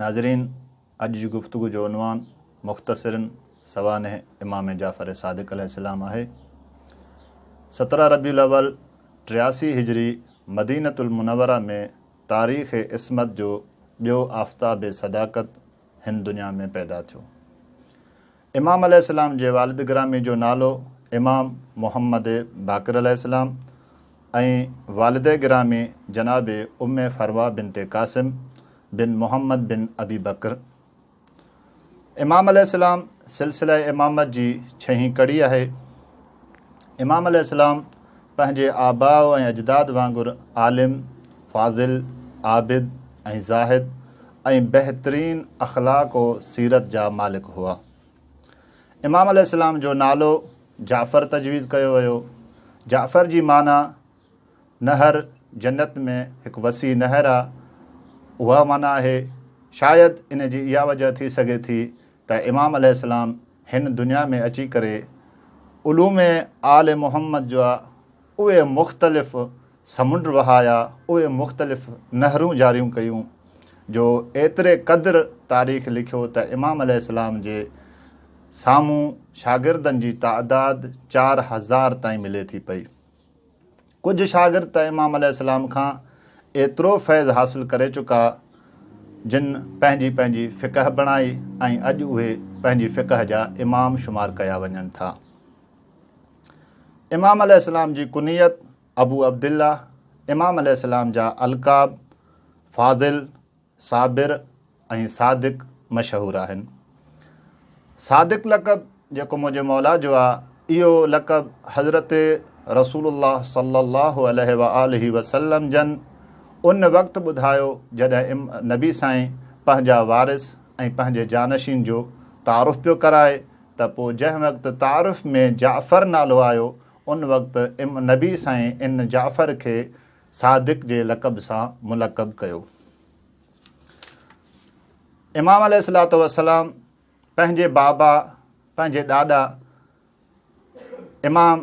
ناظرين! اڄ جي گفتگو جو عنوان مختصرن سوانح امام جعفر صادق عليه السلام آهي. سترهن ربيع الاول ٽياسي هجري مدينة المنوره ۾ تاريخ عصمت جو ٻيو آفتاب صداقت هن دنيا ۾ پيدا ٿيو. امام عليه السلام جي والد گرامي جو نالو امام محمد باقر عليه السلام ۽ والده گرامي جناب ام فروه بنت قاسم بن محمد بن ابي بڪر امام عليه السلام سلسله امامت جي ڇهين ڪڙي آهي. امام عليه السلام پنهنجي آباء ۽ اجداد وانگر عالم، فاضل، عابد ۽ زاهد ۽ بهترين اخلاق و سيرت جا مالڪ هئا. امام عليه السلام جو نالو جعفر تجويز ڪيو ويو. جعفر جي معنيٰ نهر، جنت ۾ هڪ وسيع نهر آ، اها معنيٰ آهي. شايد ان جي اها وجه ٿي سگهي ٿي ته امام عليه السلام هن دنيا ۾ اچي ڪري علوم آل محمد جا اهي مختلف سمنڊ وهايا اهي مختلف نهرون جاريون ڪيون جو ايتري قدر تاريخ لکيو ته امام عليه السلام جي سامهون شاگردن جي تعداد چار هزار تائين ملي ٿي پئي ڪجهه شاگرد ته امام عليه السلام کان ايترو فيض حاصل ڪري چڪا جن پنهنجي پنهنجي فقه بڻائي ۽ اڄ اهي پنهنجي فقه جا امام شمار ڪيا وڃن ٿا امام عليه السلام جي ڪنيت ابو عبدالله، امام عليه السلام جا القاب فاضل، صابر ۽ صادق مشهور آهن. صادق لقب جيڪو منهنجي مولا جو آ، اهو لقب حضرت رسول الله صلّي الله عليه واٰله وسلّم جن ان وقت ٻڌايو جڏهن نبي سائين پنهنجا وارث ۽ پنهنجي جانشين جو تعارف پيو ڪرائي ته پوء جنهن وقت تعارف ۾ جعفر نالو آيو ان وقت ام نبي سائين ان جعفر کي صادق جي لقب سان ملقب ڪيو. امام عليه الصلاة والسلام پنهنجي بابا پنهنجي ڏاڏا امام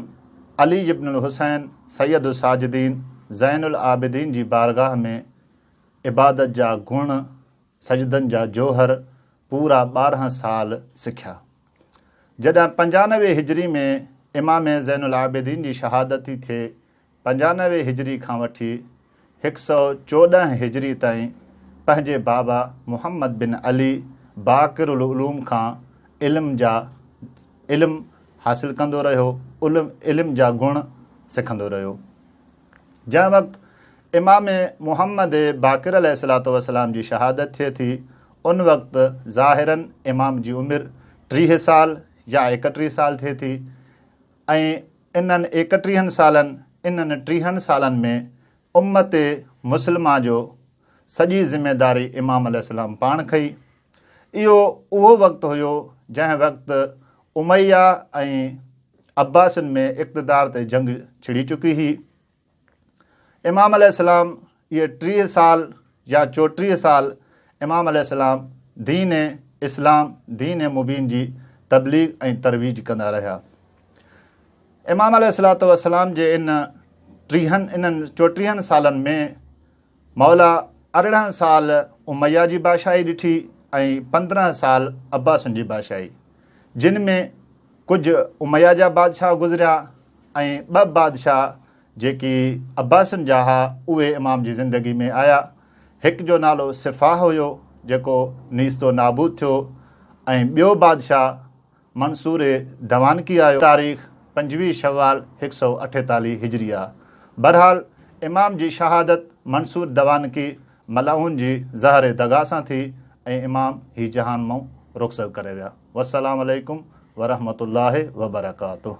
علي ابن الحسين سيد الساجدين زين العابدين جي بارگاهه ۾ عبادت جا گڻ، سجدن جا جوهر پورا ٻارهن سال سکيا. جڏهن پنجانوي هجري ۾ امام زين العابدين جي شهادت ٿي ٿئي، پنجانوي هجري کان وٺي هڪ سؤ چوڏهن هجري تائين پنهنجي بابا محمد بن علي باقر العلوم کان علم جا علم حاصل ڪندو رهيو، علم جا گڻ سکندو رهيو. جنهن وقت امام محمد باقر عليه الصلاة والسلام جي شهادت ٿئي ٿي ان وقت ظاهراً امام جي عمر ٽيهه سال يا ايڪٽيهه سال ٿئي ٿي ۽ انهن ايڪٽيهن سالن انهن ٽيهن سالن ۾ امت مسلمه جو سڄي ذميداري امام عليه السلام پاڻ کنئي اهو اهو وقت هيو جنهن وقت اميه ۽ عباسين ۾ اقتدار تي جنگ ڇڙي چڪي هئي. امام عليه السلام اهي ٽيهه سال يا چوٽيهه سال امام عليه السلام دين اسلام دين مبين جي تبليغ ۽ ترويج ڪندا رهيا. امام عليه السلام جي ان ٽيهن انهن چوٽيهن سالن ۾ مولا ارڙهن سال اميه جي بادشاهي ڏٺي ۽ پندرهن سال عباسن جي بادشاهي، جن ۾ ڪجهه اميه جا بادشاهه گذريا ۽ ٻه بادشاهه جيڪي عباسن جا ها اهي امام جي زندگي ۾ آيا. هڪ جو نالو سفاح هيو جيڪو نيست و نابود ٿيو ۽ ٻيو بادشاهه منصور ڊوانڪي آيو. تاريخ پنجويهه شوال هڪ سؤ اٺيتاليهه هجريه. بهرحال امام جي شهادت منصور دوانڪي ملعون جي زهر دغا سان ٿي ۽ امام هي جهان مئن رخصت ڪري ويا. والسلام عليڪم ورحمة الله وبرڪاته.